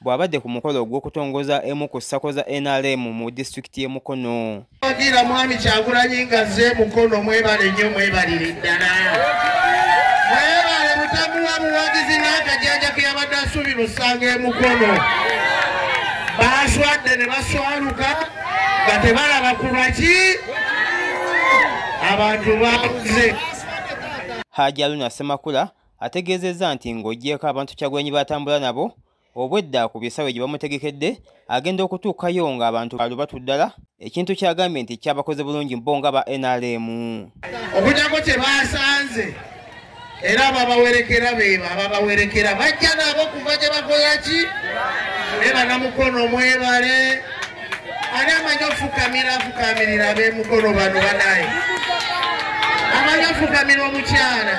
bw'abadde ku mukolo ogw'okutongoza emu ku ssako za nrm mu disitulikiti y'e mukono agira mwami kyagulanyi nga ze mukono mwebale nnyo mwebalire ddala mwebale mutamuwa buwagizi n'akajanja ke yabadde asuubira osanga e mukono baaswadde ne baswaluka nga tebalaba ku lwaki abantu baabuze haji aluna semakula ategeezezza nti ng'ogyeko abantu kyagwenyi batambula nabo obwedda ku bisawe gye bamutegekedde agenda okutuukayo ng'abantu balu batuddala ekintu kyagambye nti kyabakoze bulungi bo nga ba nrm okujako kye basanze era ababawerekera beba ababawerekera bajja nabo kuva gye bakola ki ne banamukono mwebale ani amanyi ofukamira afukamirira abemukolo bano banaye amanyi ofukamira omukyala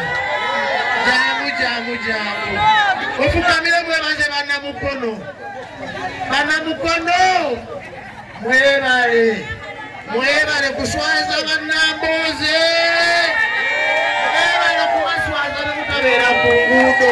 jangu jangu jangu ofukamire mwebaze banamukono banamukono mwebale mwebale kuswaza banamboze mwebale kubaswaza nemukabeera ku nguudo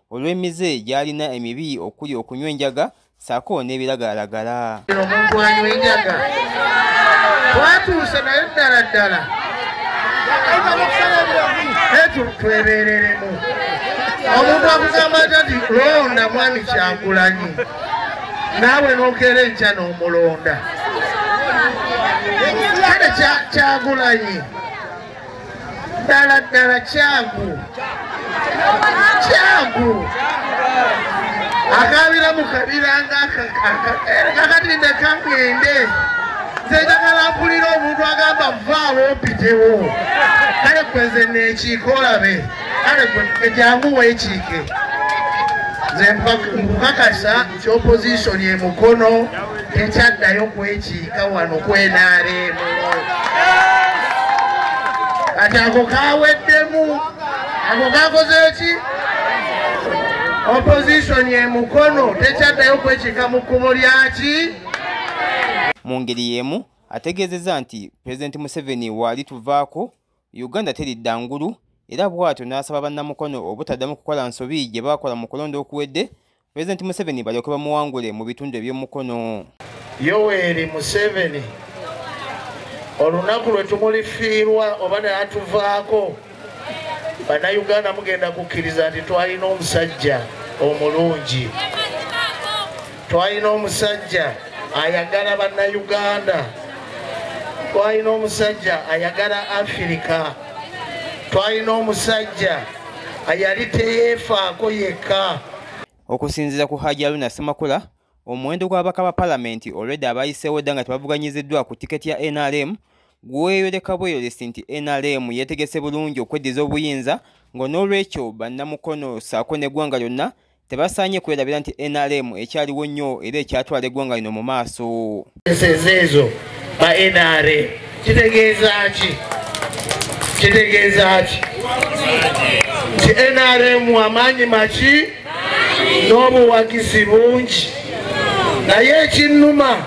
olw'emize gy'alina emibi okuli okunywa enjaga saako n'ebiragalalagala omuntu anywa enjaga twatuuse naye ddala ddala twebereremu omuntu akugamba atya nti londa mwami kyagulanyi naawe nokeera enkya n'omulonda kale kyagulanyi ddala ddala kyagu kyagu akabira mu kabira ngakakati ndekangende nzejagala mpulira omuntu agamba vaawo mpitewo kale kweze nekiika olabe kale jangu wekiike nze mpakasa ki opposition e mukono tekyaddayo kwekiika wano kwenaaleemu kati ako kaweddemu ako kakoze ki opposition e mukono tekyaddayo kwekiika mu kkubo lyaki mu ngeri y'emu ategeezezza nti pulezidenti museveni waali tuvaako uganda teridda ngulu era bw'atyo n'asaba bannamukono obutaddamu kukola nsobi gye baakola mu kulonda okuwedde President Museveni balyoke bamuwangule mu bitundu eby'omukono. Yoweri Museveni olunaku lwe tumulifiirwa oba naye atuvaako bannayuganda mugenda kukkiriza nti twalina omusajja omulungi twalina omusajja ayagala bannayuganda twalina omusajja ayagala afirika twalina omusajja ayali teyeefaako yekka Okusinziira ku Hajji Aruna Ssemakula, omuwendo gw'ababaka ba palamenti olwedda abayiseewo dda nga tebavuganyiziddwa ku tiketi ya nrm gweyoleka bweyolesi nti nrm yeetegese bulungi okweddiza obuyinza nga n'olwekyo bannamukono ssaako n'eggwanga lyonna tebasaanye kwerabira nti nrm ekyaliwo nnyo era ekyatwala eggwanga lino mu maaso ezo ba nra kitegeeza ki kitegeeza ki nti nrm amaanyi maki n'obuwagizi bungi naye ekinnuma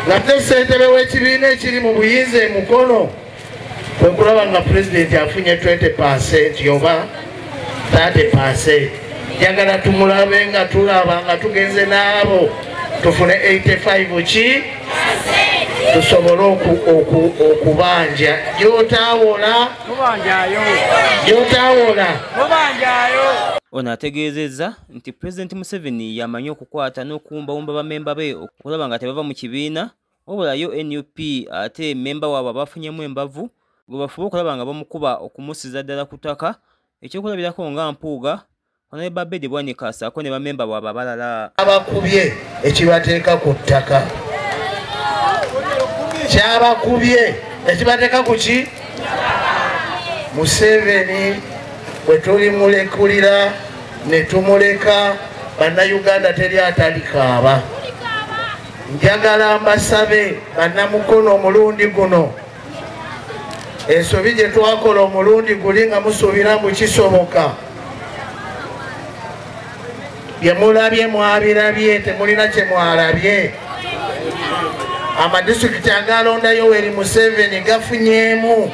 nga te ssentebe w'ekibiina ekiri mu buyinza emukono kwekulaba nga pulezidenti afunye 20 percent yoba 30 percent njagala tumulabe nga tulaba nga tugenze n'abo tufune 85 ki tusobole okubanja gyotawola gyotawola ono ategeezezza nti pulezidenti museveni yamanyi okukwata n'okuwumbawumba bamemba be okulaba nga tebava mu kibiina wabula yo nup ate memba waabwe abafunyemu embavu gwe bafuba okulaba nga bamukuba okumusiza ddala ku ttaka ekyokulabirako nga mpuuga onali babedi bwanika saako ne bamemba bwaba abalala abakubye ekibateeka ku ttaka kyabakubye ekibateeka ku ki museveni bwe tulimulekulira ne tumuleka bannayuganda teri atalikaaba njagala mbasabe bannamukono omulundi guno ensobi gye twakola omulundi guli nga musuubira mbu kisoboka bye mulabye mwabirabye temulina kye mwalabye amadisitulikiti agalonda yoweri museveni gafunyeemu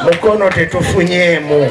mukono tetufunyeemu